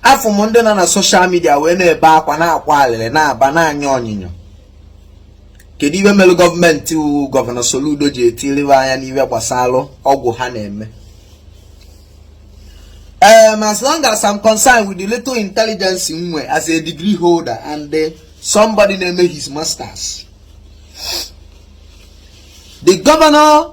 afụ m ndị nọ na soshal midia wee na-ebe akwa na-akwa alịrị na-aba na-anya onyinyo kedu ihe mere gọọmenti wụ gọvanọ Soludo ji etiriwe anya n'ihe gbasara ọgwụ ha na-eme um, as long as I'm concerned with the little intelligence m nwee as a degree holder and the uh, somebody na-eme his masters the governor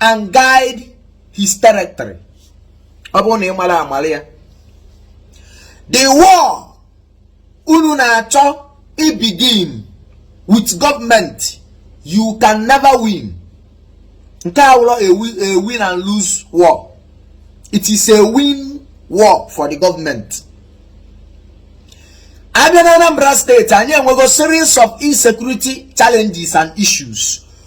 and guide his territory ọ bụrụ na ị mara amara ya the war unu na-achọ ibegin with government you can never win nke a awụrọ a win and lose war it is a win war for the government a bịa na Anambra State anyị enwego series of insecurity challenges and issues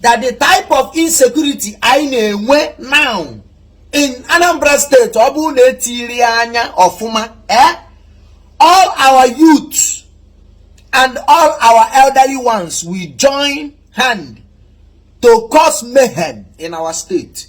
that the type of insecurity anyị na-enwe now in Anambra State ọ bụrụ na etiri anya ọfụma eh all our youth and all our elderly ones will join hand to cause mayhem in our state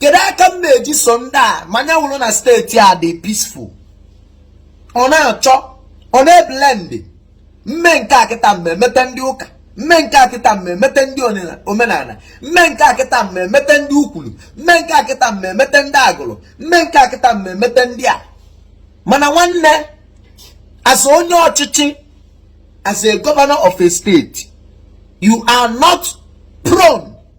kedu aka m na-eji so ndị a ma ya wụrụ na steeti a dị peaceful ọ na-achọ ọ na-eblend m mee nke a kịta m ma-emete ndị ụka m mee nke a kịta m ma-emete ndị omenala m mee nke a kịta m ma-emete ndị Ukwulu m mee nke a kịta m ma-emete ndị Agụlụ m mee nke a kịta m ma-emete ndị a mana nwanne as onye ọchịchị as a governor of a state you are not prone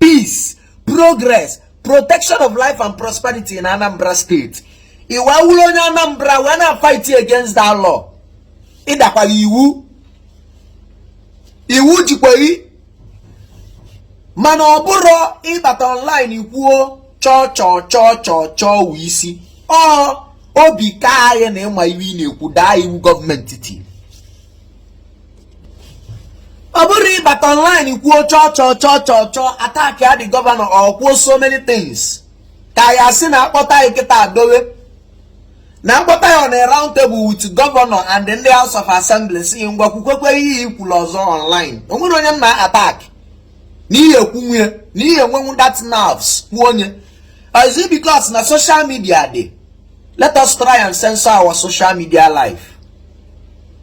peace progress protection of life and prosperity in Anambra State ị wee wụrụ onye Anambra wee na-afight against that law ị dakwara iwu iwu jikwa ghị mana ọ bụrụ ị bata online ị kwuo chọọ chọọ chọọ chọọ chọọ wụ isi ọ obi kaa ghị na ị ma ihe ị na-ekwu daa iwu gọọmenti tiri ọ bụrụ ị bata online kwuo chọọ chọọ chọọ chọọ chọọ attackịa the gọvanọ or kwuo so many things ka ya sị na a kpọta ghị kịta dowe na a kpọta ghị on a round table with gọvanọ and ndị house of assembly sị ngwa kwukwekwe ihe i kwuru ọzọ online o nwere onye m na-attack na ị ya-ekwunwu ya na ị ya-enwenwu that nerves kwuo onye is it because na social media dị let us try and censor our social media life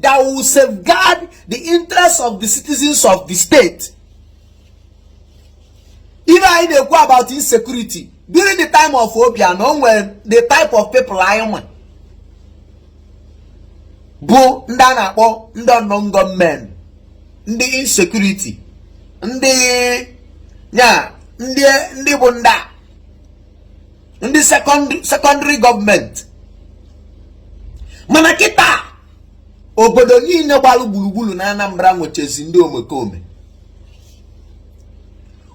that will safeguard the interests of the citizens of the state even anyị na-ekwu about insecurity during the time of Obiano o nwere the type of people anyị nwe bụ ndị a na-akpọ ndị unknown gunmen ndị insecurity ndị ya ndị ndị bụ ndị a ndị sekọndịrị gọọmenti mana kịta obodo niile gbalụ gburugburu na Anambra nwechezi ndị omekome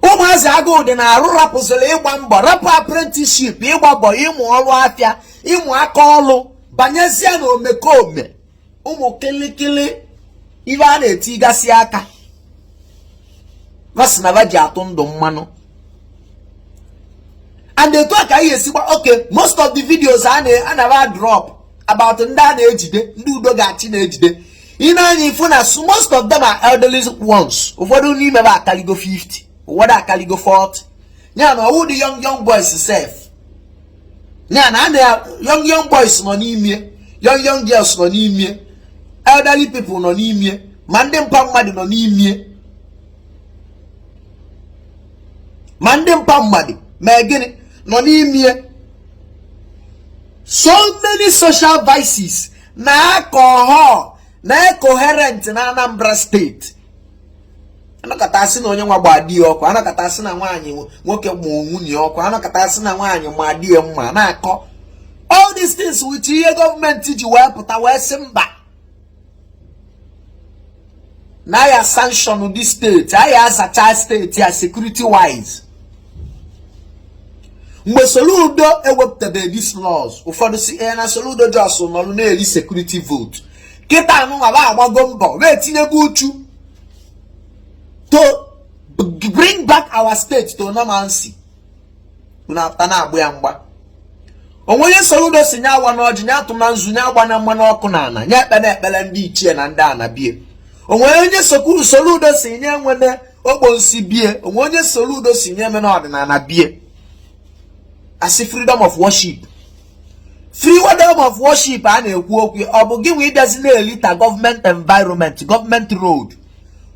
ụmụazị agụụ dị na arụ rapụziri ịgba mbọ rapụ apprenticeship ịgba mbọ ịmụ ọrụ afịa ịmụ aka ọrụ banyezie na omekome ụmụ kịlịkịlị ibe a na-etigasị aka va sị na va ji atụ ndụ mmanụ and etu a ka anyị esi gba oke most of the videos a na-adrop about ndị a na-ejide ndị udo ga-achị na-ejide i nee anya ị fụ na most of them are elderly ones ụfọdụ n'ime ha akaligo 50 ụfọdụ akaligo 40 ya na ọ wụdị young young boys sef ya na ana ya young young boys nọ n'ime young young girls nọ n'ime elderly people nọ n'ime ma ndị mma mmadụ nọ n'ime ma ndị mpa mmadụ ma gịnị nọ n'ime so many social vices na alcohol na coherent na Anambra State anọkata asị na onye nwa gba di ya ọkụ anọkata asị na nwaanyị nwoke gba nwunye ọkụ anọkata asị na nwaanyị ma di ya mma na-akọ all these things wụcha ihe gọọmenti ji wee pụta wee sị mba na a ya-sanction the state a ya-azacha state a security wise mgbe Soludo ewepụtabeghị these laws ụfọdụ si ee eh, na Soludo just nọrụ na-eri security vote kịtaa nụnwa ba agbago mbọ wee tinyego uchu to bring back our state to normalcy unu apụta na-agba ya mgba o nwe onye Soludo si nya awana ọjị nya atụna nzu nya agbana mmanụ ọkụ na ana nya ekpele ekpele ndị ichie na ndị ana bie o nwe onye Soludo si nya enwene okponsi bie o nwe onye Soludo si nya emena ọdịnala bie asị freedom of worship freedom of worship a na-ekwu okwu ọ bụ gị nwe ị bịazie na-elitter government environment government road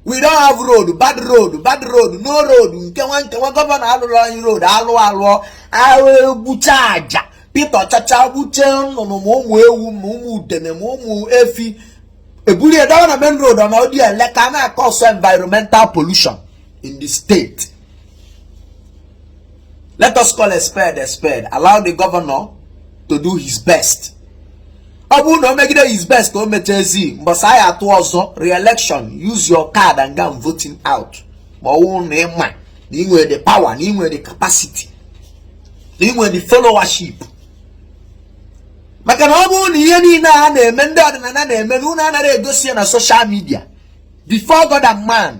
we don't have road bad road bad road no road nke nwa nke nwa gọvanọ alụrụ anyị road alụ alụọ ahụ egbucha aja pete ọchacha gbuche nnụnụ ma ụmụ ewu ma ụmụ udene ma ụmụ efi ebulu edowe na main road na ọ dị ele ka a na-acause environmental pollution in the state let us call a spade a spade allow the governor to do his best ọ bụrụ na o megide his best ka o mechezie mbọsị a ya-atụ ọzọ re-election use your card and go and vote him out ma ọ wụrụ na ịma na ị nwere the power na ị nwere the capacity na ị nwere the followership maka na ọ bụrụ na ihe niile a na-eme ndị ọdịnala na-eme na unu anaghị egosi ya na social media before God and man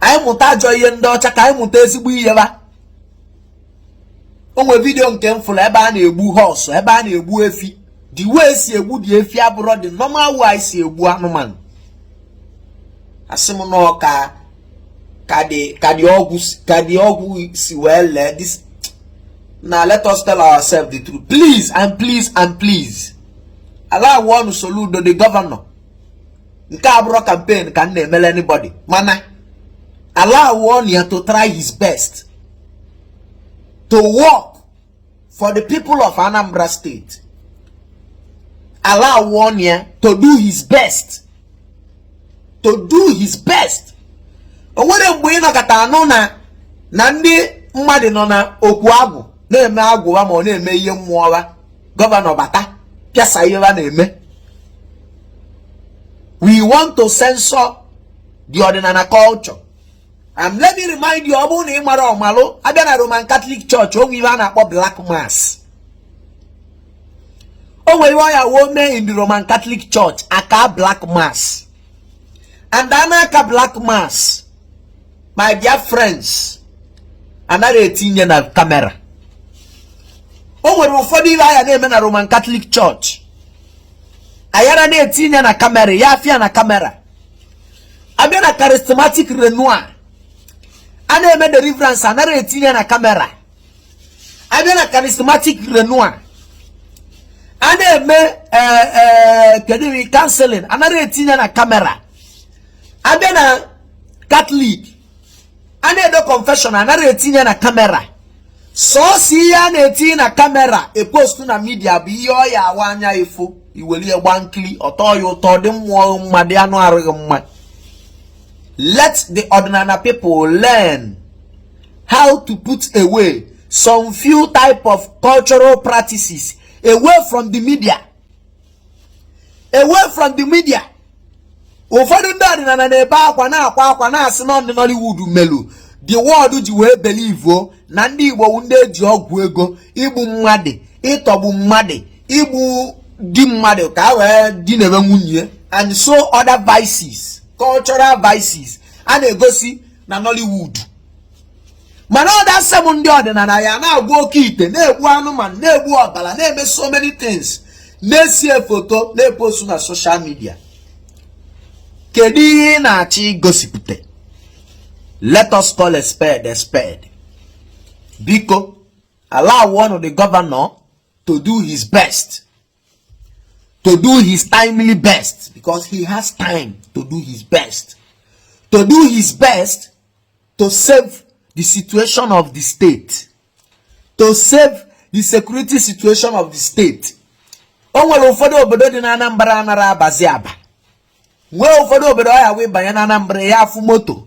anyị mụta ajọ ihe ndị ọcha ka anyị mụta ezigbo ihe ba o nwere video nke m fụlụ ebe a na-egbu horse ebe a na-egbu efi the way e si egbu the efi abụrọ the normal way e si egbu anụmanụ asị m na ọ ka the ọgwụ si wee lee this now let us tell ourselves the truth please and please and please allow nụ Soludo the governor nke a abụrọ campaign ka m na-emelụ anybody mana allow nụ ya to try his best to work for the people of Anambra State allow nụ ya to do his best to do his best o nwere mgbe ị nọkata anụ na ndị mmadụ nọ na okwu agwụ na-eme agwụ wa ma ọ na-eme ihe mmụọ governor bata pịasa ihe a na-eme we want to censor the ọdịnana culture and let me remind you ọ bụ na ị marọ malụ a bịa na roman catholic church o nwe ihe a na-akpọ black mass o nwere ihe ọ ya-awụ o mee in the roman catholic church a kaa black mass and a na-aka black mass my dear friends a narọ etinye na camera o nwere ụfọdụ ihe a ya na-eme na roman catholic church a yara na-etinye na camera ya appear na camera a bịa na charismatic renewal a na-eme deliverance a narọ etinye na camera a bịa na charismatic renewal a na-eme eh, eh, kedu counseling a narọ etinye na camera a bịa na catholic a na-edo confession a narọ etinye na camera sọọsọ ihe a na-etinye na camera e postuo na media bụ ihe ọ ya-awụ anya ị fụ i welie gba nkiri ọ tọọ ya ụtọ dị mmụọ gị mma dị anụ arụ gị mma let the ọdịnana people learn how to put away some few type of cultural practices away from the media away from the media ụfọdụ ndị ọdịnana na-ebe akwa na-akwa akwa na-asị na ndị Nollywood melu the world ji wee belivuo na ndị Igbo wụ ndị e ji ọgwụ ego igbu mmadụ ịtọgbu mmadụ igbu di mmadụ ka a wee dinabe nwunye and so other vices cultural vices a na-egosi na Nollywood mana ọ that same ndị ọdịnana ya na-agwọ oke ite na-egbu anụmanụ na-egbu ọbala na-eme so many things na-ese foto na-epostu na social media kedu ihe ị na-achọ igosipụta let us call a spade a spade biko allow nụ the governor to do his best to do his timely best because he has time to do his best to do his best to save the situation of the state to save the security situation of the state o nwere ụfọdụ obodo dị na Anambra a nara abazi aba nwee ụfọdụ obodo ọ ya-awụ ị banye na Anambra ị ya-afụ moto